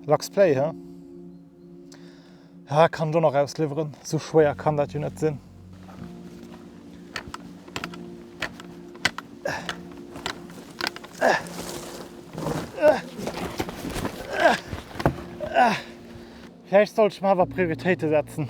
Lux Play he? Ja, kann jo nach ausliwweren. So schwéier kann dat jo net sinn. Vläicht sollt ech mer awer Prioritéite setzen.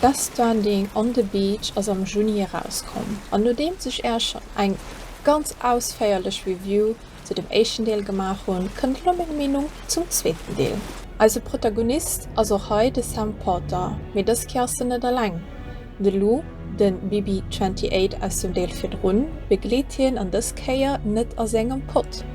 Best Stranding on the Beach ass am Juni erauskomm, an nodeems ech Äech schonn eng ganz ausféierlech Review zu dem éischten Deel gemaach hunn, kënnt elo meng Meenung zum zweeten Deel. Eise Protagonist ass och hei de Sam Porter, mee dës Kéier ass en net eleng. De Lou, de BB-28 aus dem Deel virdrun, begleet hien an dës Kéier net a sengem Pott.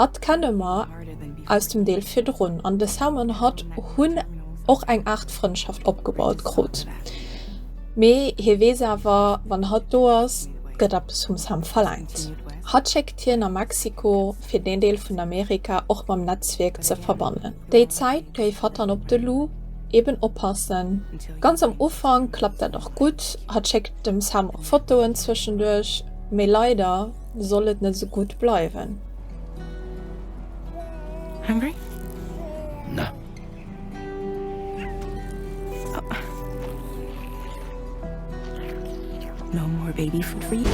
Hatt kenne mer aus dem Deel virdrun, an de Sam an hatt hunn och eng Aart Frëndschaft opgebaut krut. Mee hie weess awer, wann hatt do ass, gëtt eppes vum Sam verlaangt. Hatt schéckt hien a Mexiko, fir deen Deel vun Amerika och mam Netzwierk ze verbannen. Déi Zäit géif hatt dann op de Lou eben oppassen. Ganz am Ufank klappt dat och gutt, hatt schéckt dem Sam och Fotoen zwëschenduerch, mee leider soll et net esou gutt bleiwen. Hungry? Na. Oh. No more baby food for you.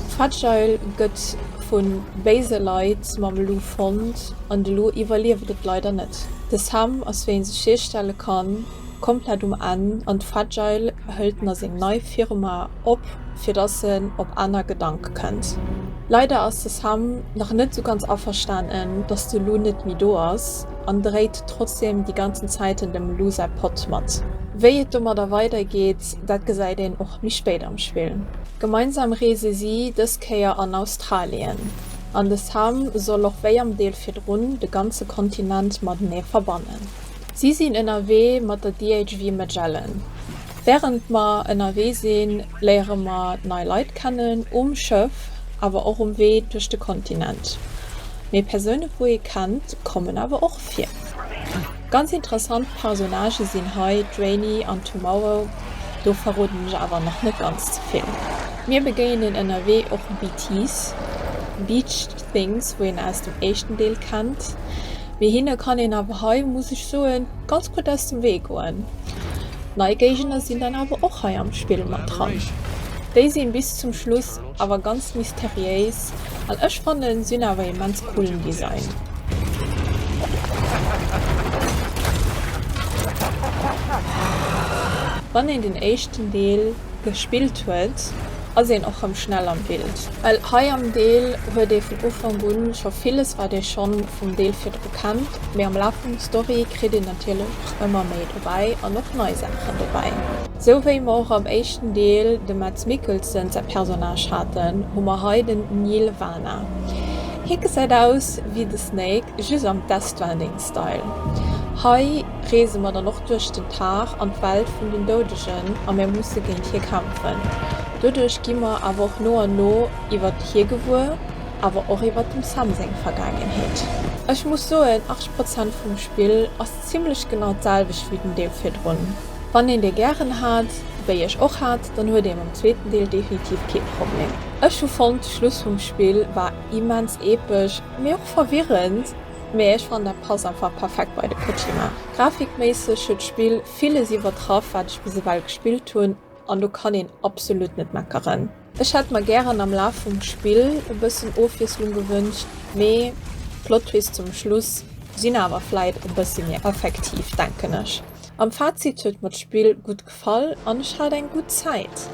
D'Fragile gëtt vu béise Leit mam Lou fonnt an de Lou iwwerlieft et leider net. De Sam ass wéi een sech hierstelle kann komplett um Enn an d'Fragile hëlt na seng nei Firma op fir dass en op aner Gedanke kënnt. Leider ass de Sam nach net sou ganz averstanen dass de Lou net méi do ass an dréit trotzdem déi ganzen Zäiten dem Lou säi Pott mat. Wéi et domadder weider geet Dat gesäit een och méi spéit am Spill. Gemeinsam reese si dës Kéier an Australien, an de Sam soll och wéi am Deel virdrun de ganze Kontinent matenee verbannen. Si sinn ënnerwee mat der DHV Magellan. Wärend mer ënnerwee sinn, léiere mer nei Leit kennen, um Schëff, awer och um Wee duerch de Kontinent. Mee Persoune wou ee kennt, kommen awer och vir. Ganz interessant Personnagen sinn hei d'Rainy an d'Tomorrow, do verroden ech awer nach net ganz ze vill. Mir begéinen ënnerwee och BTs, Beached Things, wou een aus dem éischten Deel kennt, mee hinne kann een awer hei, muss ech soen, ganz gutt aus dem Wee goen. Nei Géigender sinn dann awer och hei am Spill mat dran, déi sinn bis zum Schluss. Awer ganz mysteriéis an ech fannen sin awer immens cool den Design. Wann een den éischten Deel gespillt huet ass een och rem schnell am Bild. Well hei am Deel huet ee vun Ufank un scho villes wat ee schonn vum Deel virdru kennt, mee am Laf vum Story kritt een natierlech och ëmmer méi dobäi an och nei Saachen dobäi. Sou wéi mer och am éischten Deel de Mads Mikkelsen säi Personnage haten, hu mer hei den Neal Vana. Hie gesäit aus wéi de Snake, just am Death Stranding Style. Hei reese mer dann och duerch den Tag an d'Welt vun den Doudegen a mir musse géint hie kämpfen. Doduerch gi mer awer och no an no iwwert hie gewuer, awer och iwwert dem Sam seng Vergaangenheet. Ech muss soen, 80 Prozent vum Spill ass zimlech genau d'selwecht wéi den Deel virdrun. Wann een dee gären hat, wéi ech och hat, dann huet ee mam zweeten Deel definitiv kee Problem. Ech hu fonnt, de Schluss vum Spill war immens epesch, mee och verwirrend, mee ech fannen dat passt einfach perfekt bei de Kojima. Grafikméisseg huet d'Spill villes iwwertraff wat ech bis ewell gespillt hunn, an do kann een absolut net meckeren. Ech hätt mer gären am Laf vum Spill e bëssen Ofwiesslung gewënscht, mee Plottwist zum Schluss sinn awer vläit e bësse méi effektiv, denken ech. Am Fazit huet mer d'Spill gutt gefall an ech hat eng gutt Zäit.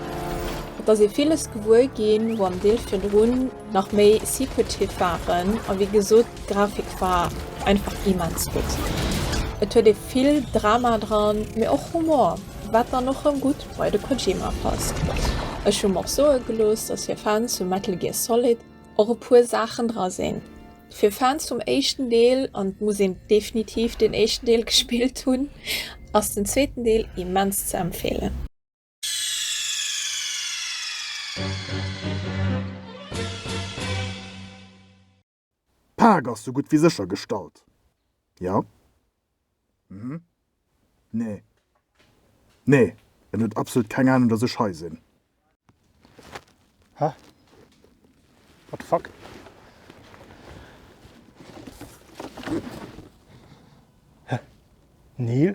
Et ass ee villes gewuer ginn, wou am Deel virdrun nach méi secretive waren a wéi gesot d'Grafik war einfach immens gutt. Et huet ee vill Drama dran, mee och Humor. Wat dann och rëm gutt bei de Kojima passt. Ech hu mer och soe gelooss, dass fir Fans vu Metal Gear Solid och e puer Saachen dra sinn fir Fans vum éischten Deel, an et muss een definitiv den éischten Deel gespillt hunn, ass den zweeten Deel immens ze empfeelen. D'Paak ass sou gutt wéi sécher gestallt, jo? Hm, nee. Nee, en huet absolut keng Ahnung, dass ech hei sinn. Hä? What the fuck? Hä? Neil?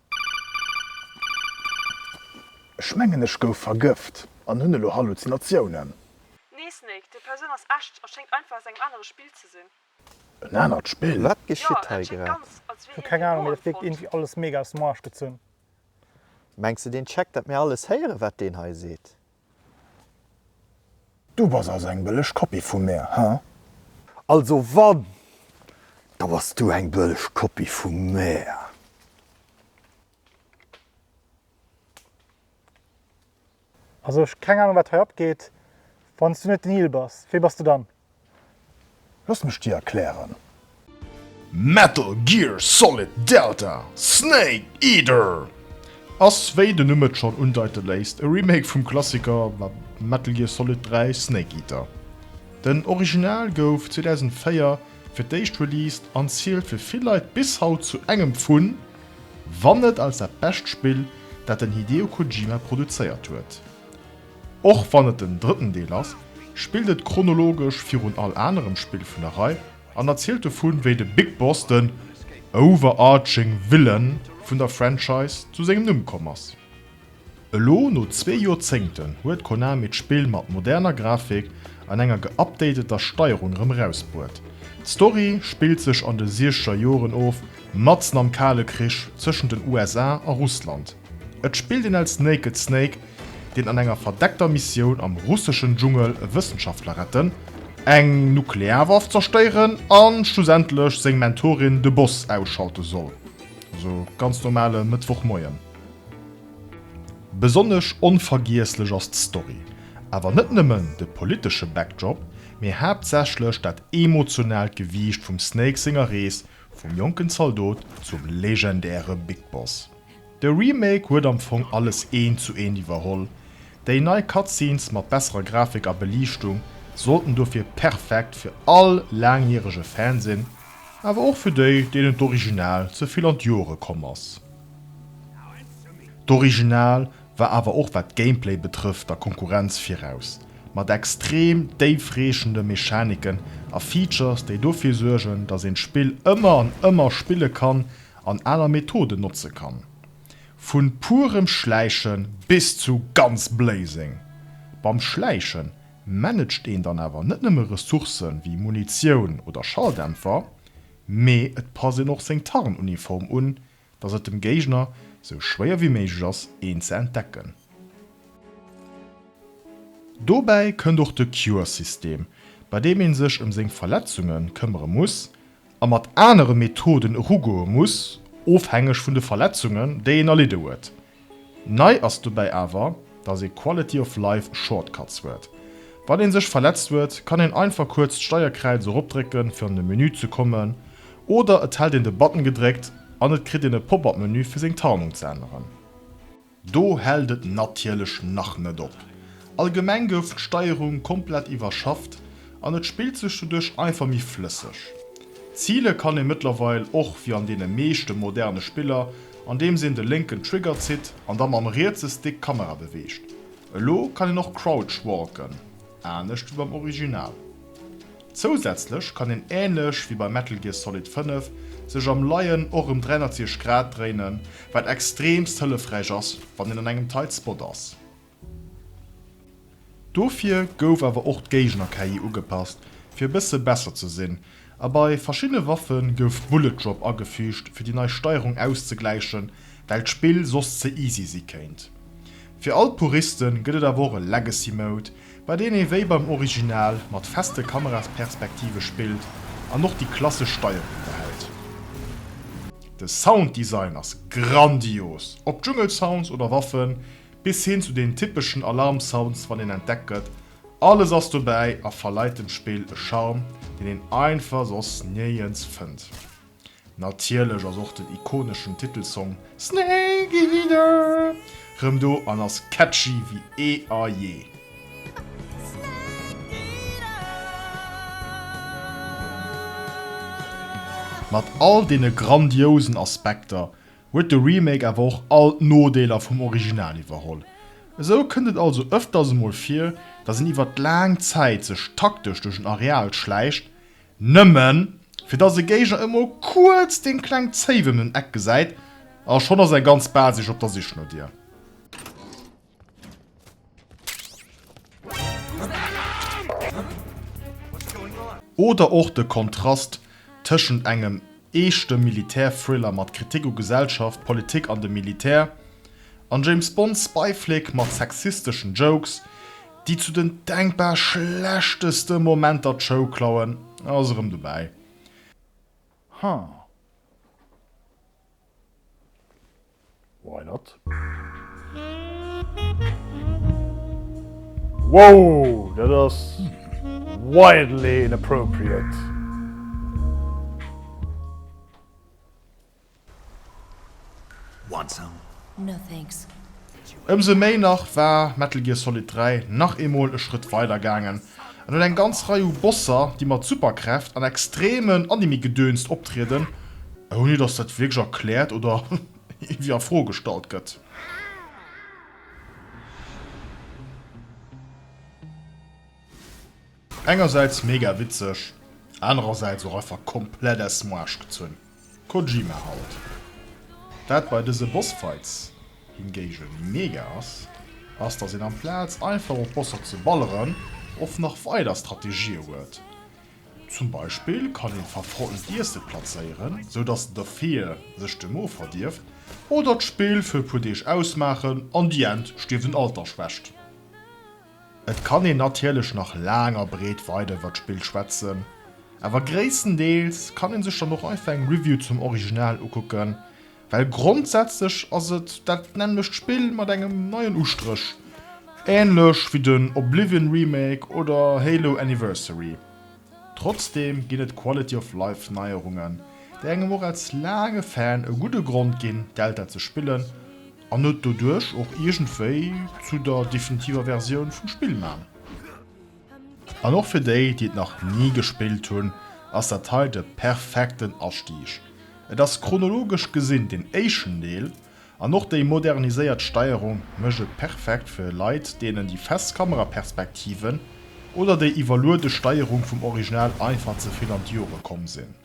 Ech mengen ech gouf vergëft an hunn elo Halluzinatiounen. Nee Snake, déi Persoun ass echt a schéngt einfach aus engem anere Spill ze sinn. En anert Spill? Wat geschitt hei grad? Ech hu keng Ahnung, mee dat wierkt iergendwéi alles mega aus dem Arsch gezunn. Mengs de deen checkt dat mir alles héieren wat deen hei seet? Du bass also eng bëlleg Kopie vu mär, he? Also wann, da bass du eng bëlleg Kopie vu mär. Also ech keng Ahnung wat hei abgeet. Wanns du net den Neil bass, wee bass de dann? Looss mech dir erklären. Metal Gear Solid Delta, Snake Eater ass, wéi den Numm et schonn undeite léisst, e Remake vum Klassiker Metal Gear Solid 3, Snake Eater. Den Original gouf 2004 fir d'éischt released an zielt fir vill Leit bis haut zu engem vun, wann net als dat bescht Spill, dat den Hideo Kojima produzéiert huet. Och wann et den drëtten Deel ass, spillt et chronologesch virun all anerem Spill vun der Rei an erzielt dovun, wéi de Big Boss den overarching Villain vun der Franchise zu sengem Numm komm ass. Elo no zwee Joerzéngten huet Konami d'Spill mat moderner Grafik an enger geupdateter Steierung erëm erausbruet. D'Story spillt sech an de Siescheger Joren of, matzen am Kale Krich tëschent den USA a Russland. Et spillt een als Naked Snake, deen an enger verdeckter Missioun am russeschen Dschungel e Wëssenschaftler retten, eng Nuklearwaff zerstéieren a schlussendlech seng Mentorin de Boss ausschalte soll. Esou e ganz normale Mëttwochmoien. Besonnesch onvergiesslech ass d'Story, awer net nëmmen de politesche Backdrop, mee haaptsächlech dat emotionaalt Gewiicht vum Snake senger Rees vum jonken Zaldot zum legendäre Big Boss. De Remake huet am Fong alles eent zu eent iwwerholl, déi nei Cutscenes mat besserer Grafik a Beliichtung sollten dofir perfekt fir all laangjärege Fan sinn, awer och fir déi, deenen d'Original ze vill an d'Joere komm ass. D'Original war awer och wat d'Gameplay betrëfft der Konkurrenz viraus, mat extrem déifreechende Mechaniken a Features, déi dofir suergen, datt een d'Spill ëmmer an ëmmer spille kann an aler Methoden notze kann, vun purem Schläichen bis zu ganz Blazing. Beim Schläichen managed een dann awer net nëmme Ressourcen wéi Munitioun oder Schalldämpfer, mee et passt een och seng Tarnuniform un, dass et dem Géigner sou schwéier wéi méiglech ass een ze entdecken. Dobäi kënnt och de Cure-System, bei deem een sech em seng Verletzungen këmmere muss a mat anere Methoden erugoe muss, ofhängeg vun de Verletzungen, déi een erlidde huet. Nei ass dobäi awer, datt ee Quality of Life Shortcuts huet. Wann ee sech verletzt huet, kann een einfach kuerz d'Steierkräiz eropdrécken, fir an de Menü ze kommen, oder et hält een de Button gedréckt an et kritt een e Pop-up-Menü, fir seng Tarnung ze änneren. Do hält et natierlech nach net op. Allgemeng gouf d'Steierung komplett iwwerschafft an et spillt sech doduerch einfach méi flësseg. Zile kann ee mëttlerweil och wéi an deene meeschte moderne Spiller, andeems een de lénken Trigger zitt an da mam rietse Stick d'Kamera beweegt. Elo kann een och Crouch walken, anescht wéi beim Original. Zousätzlech kann een änlech wéi bei Metal Gear Solid 5 sech am Leien och em 360 Grad dréinen, wat extremst hëllefräich ass wann een an engem tight Spot ass. Dofir gouf awer och d'Géigner-KI ugepasst fir e bësse besser ze sinn, a bei verschiddene Waffe gouf Bullet Drop agefügt fir déi nei Steierung auszegläichen, well d'Spill soss ze easy si kéint. Fir all d'Puristen gëtt et awer och e Legacy Mode, bei deen ee wéi beim Original mat feste Kamerasperspektive spillt an och déi klassesch Steierung behält. De Sounddesign ass grandios, ob Dschungelsounds oder Waffen, bis hin zu den typeschen Alarmsounds wann een entdeckt gëtt, alles ass dobäi a verleit dem Spill e Charme, deen een einfach soss niergends fënnt. Natierlech ass och den ikoneschen Titelsong Snake Eater rëm do an ass catchy wéi eh a jee. Mat all deene grandiousen Aspekter huet de Remake awer och all d'Nodeeler vum Original iwwerholl. Esou kënnt et also ëfters emol vir, dass een iwwert laang Zäit sech taktesch duerch en Areal schläicht, Nëmmen, fir dass e Géigner emol kuerz deng kleng Zéif ëm den Eck gesäit, a schonn ass eng ganz Basis op der Sich no dir. Oder och de Kontrast tëschent engem. Eeschte Militär-Thriller mat Kritik u Gesellschaft, Politik an dem Militär, an James-Bond-Spy-Flick mat sexisteschen Jokes, déi zu den denkbar schlechtesten Momenter d'Show klauen, ass erëm dobäi. Huh. Why not? Wow, dat ass wildly inappropriate. Want some? No thanks. Ëmsou méi nach war Metal Gear Solid 3 nach eemol e Schrëtt weider gaangen En huet eng ganz Rei u Bosser, déi mat Superkräft an extremen Anime-Gedönst optrieden, ouni dass dat wierklech erkläert oder iergendwéi a Fro gestallt gëtt. Engersäits mega witzeg, anerersäits och einfach komplett aus dem Aarsch gezunn. Kojima halt. Wat bei dëse Bossfights hingegen mega ass, ass dass een amplaz einfach op Bosser ze balleren och nach weider Strategië huet. Zum Beispill kann een verfrottend Iesse plazéieren, sou dass de Fear sech de Mo verdierft, oder d'Spill fir e puer Deeg ausmaachen an déi Ent stierft un Altersschwächt. Et kann een natierlech nach laang a breet weider iwwer d'Spill schwätzen, awer gréisstendeels kann ee sech dann och einfach eng Review zum Original ukucken, well grondsätzlech ass et dat nämmlecht Spill mat engem neien Ustréch, änlech wéi den Oblivion Remake oder Halo Anniversary. Trotzdeem ginn et Quality of Life Neierungen, déi engem och als laange Fan e gudde Grond ginn, Delta ze spillen. An huet doduerch och iergendwéi zu der definitiver Versioun vum Spill man. An och fir déi, déi et nach ni gespillt hunn, ass dat hei de perfekten Astieg. Et ass chronologesch gesinn deen éischten Deel, an och déi moderniséiert Steierung mécht et perfekt fir Leit, deenen déi fest Kameraperspektiven oder déi iwwerluede Steierung vum Original einfach ze vill an d'Jore komm sinn.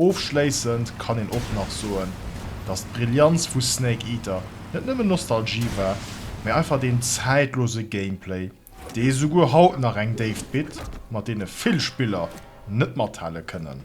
Ofschléissend kann een och nach soen, dass d'Brillianz vu Snake Eater net nëmmen Nostalgie war, mä einfach deen zäitlose Gameplay, dee souguer haut nach eng Déift bitt, mat deene vill Spiller net mathale kënnen.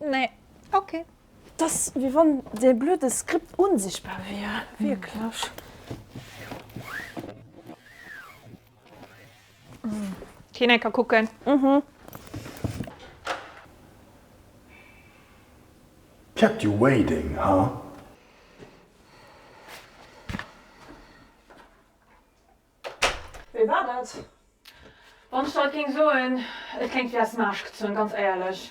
Nee, ok. Dass wéi wann dee blöde Skript unsichtbar wier, wierklech. Keen ee ka kucken. Mhm. Kept you waiting, huh? Wéi war dat? Wann ech dat géing soen, et kléngt wéi aus dem Aasch gezunn, ganz éierlech.